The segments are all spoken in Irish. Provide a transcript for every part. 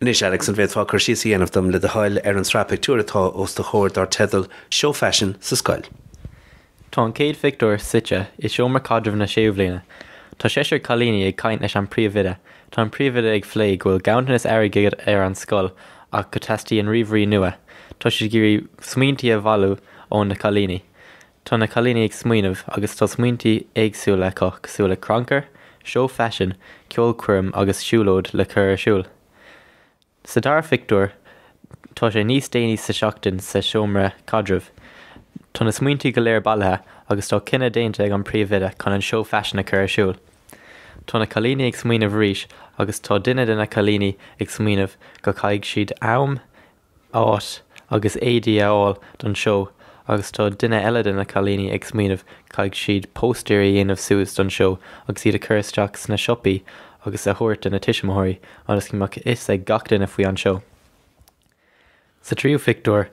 Anois, Alex, an bhféadfá cur síos a dhéanamh dom, le do thoil, ar an tsraith pictiúr atá os do chomhair dár teideal 'Seó Faisin sa Scoil'? Tá an chéad phictiúr suite i seomra caidrimh na séú bhliana. Tá seisear cailíní ag caint leis an príomhoide. Tá an príomhoide ag phlé go bhfuil ganntanas airgid ar an scoil ach go teastaíonn ríomhairí nua. Tá siad ag iarraidh smaointí a bhailiú ó na cailíní. Tá na cailíní ag smaoineamh agus tá smaointí éagsúla acu cosúil le crannchur, seó faisin, ceolchoirm agus siúlóid le cur ar siúl. Sa dara phictiúr tá sé níos déanaí sa tseachtain sa seomra caidrimh. Tá na smaointí go léir bailithe agus tá cinneadh déanta ag an bpríomhoide chun an seó faisin a chur ar siúl. Tá na cailíní ag smaoineamh arís agus tá duine de na cailíní ag smaoineamh go gcaithfidh siad am áit agus éadaí a fháil don seó agus tá duine eile de na cailíní ag smaoineamh caithfidh siad póstaeirí a dhéanamh suas don seó agus iad a chur isteach sna siopaí agus a thabhairt do na tuismitheoirí ionas go mbeadh fhios ag gach duine faoi an seó. Sa tríú phictiúr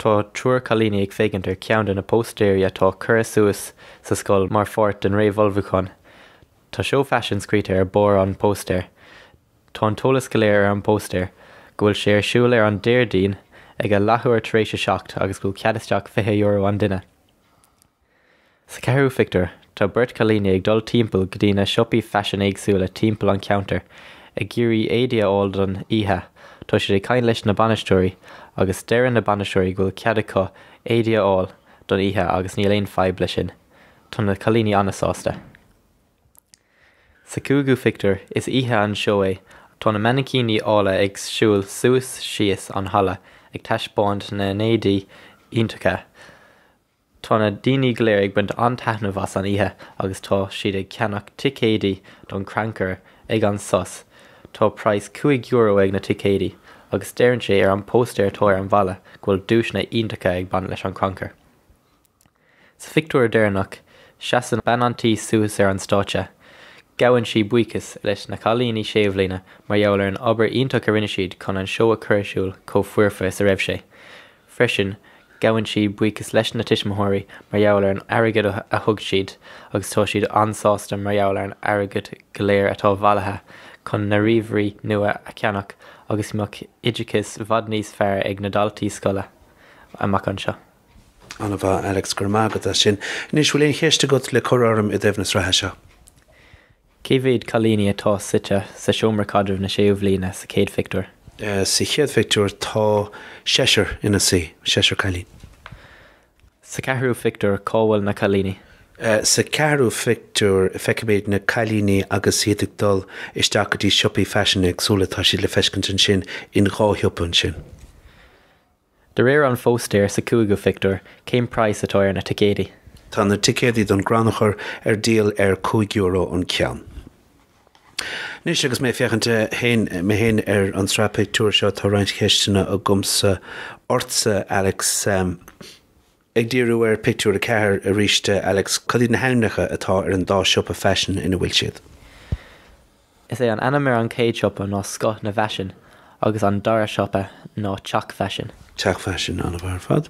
tá triúr cailíní ag féachaint ar cheann de na póstaeirí atá curtha suas sa scoil mar pháirt den réamhullmhúchán. Tá seó faisin scríte ar barr an póstaeir. Tá an t-eolas go léir ar an póstaer, go bhfuil sé ar siúl ar an Déardaoin ag a leathuair tar éis a seacht agus go bhfuil cead isteach €20 an duine. Sa cheathrú phictiúr, tá beirt cailíní ag dul timpeall go dtí na siopaí faisin éagsúla timpeall an ceantar ag iarraidh éadaí a fháil don oíche, tá siad ag caint leis na bainisteoirí agus deireann na bainisteoirí go bhfuil cead acu éadaí a fháil don oíche agus níl aon fhadhb leis sin, tá na cailíní an-sásta. Sa cúigiú phictiúr, is oíche an seó é, tá na mainicíní áille ag siúl suas síos an halla ag taispeáint na n-éadaí iontacha. Tá na daoine go léir ag baint an-taitneamh as an oíche agus tá siad ag ceannach ticéadaí don chrannchur. Ag an sos, tá praghas cúig euro ag na ticéadaí agus deireann sé ar an póstaer atá ar an bhalla go bhfuil duaiseanna iontacha ag baint leis an chrannchur. Sa phictiúr deireanach, seasann bean an tí suas ar an stáitse. Gabhann siad buíochas leis na cailíní sé bhliana mar gheall ar an obair iontach a rinne siad chun an seó a chur ar siúl chomh foirfe is a raibh sé. Freisin, gabhann siad buíochas leis na tuismitheoirí mar gheall ar an airgead a thug siad agus tá siad an-sásta mar gheall ar an airgead go léir atá bailithe chun na ríomhairí nua a cheannach agus mbeadh oideachas bhfad níos fearr ag na daltaí scoile amach anseo. Ana-mhaith, Alex, go raibh maith agat as sin. Anois, bhfuil aon cheist agat le cur orm i dtaobh na sraithe seo? Cé mhéad cailíní atá suite sa seomra caidrimh na séú bhliana sa chéad phictiúr? Sa chéad phictiúr tá seisear ina suí, seisear cailín. Sa ceathrú pictiúr cá bhfuil na cailíní? Sa ceathrú phictiúr feicimid na cailíní agus iad ag dul isteach go dtí siopaí faisin éagsúla, tá siad le feiscint ansin in dhá shiopa ansin. De réir an phóstaeir sa chúigiú phictiúr, cén praghas atá ar na ticéidí? Tá na ticéidí don gcrannchur ar díol ar cúig euro an ceann. Anois agus mé ag féachaint féin, mé féin, ar an tsraith pictiúr seo, tá roinnt cheisteanna agamsa ortsa, Alex. Ag díriú ar Pictiúr 4 aríst, Alex, cad iad na hainmneacha atá ar an dá siopa faisin ina bhfuil siad? Is é an ainm ar an chéad siopa ná Scoth na bhFaisean agus an dara siopa ná Teach Faisin. Teach Faisin, an-mhaith ar fad.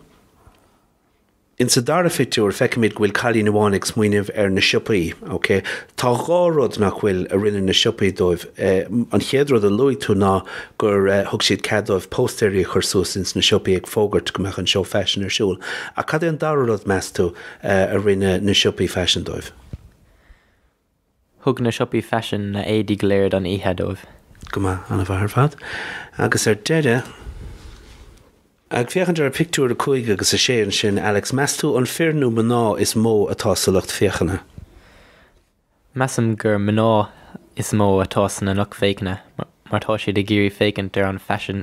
In sa dara phictiúr, feicimid go bhfuil cailín amháin ag smaoineamh ar na siopaí. Ócé. Tá dhá rud, nach bhfuil, a rinne na siopaí dóibh. An chéad rud a luaigh tú ná gur thug siad cead dóibh póstaeirí a chur suas ins na siopaí ag fógairt go mbeadh an Seó Faisin ar siúl. Ach cad é an dara rud, meas tú, a rinne na siopaí faisin dóibh? Thug na siopaí faisin na héadaí go léir don oíche dóibh. Go maith. An-mhaith ar fad. Agus ar deireadh, ag féachaint ar Pictiúr 5 agus 6 ansin, Alex, meas tú an fir nó mná is mó atá sa lucht féachana? Measaim gur mná is mó atá sa lucht féachana mar tá siad ag iarraidh féachaint ar an faisean.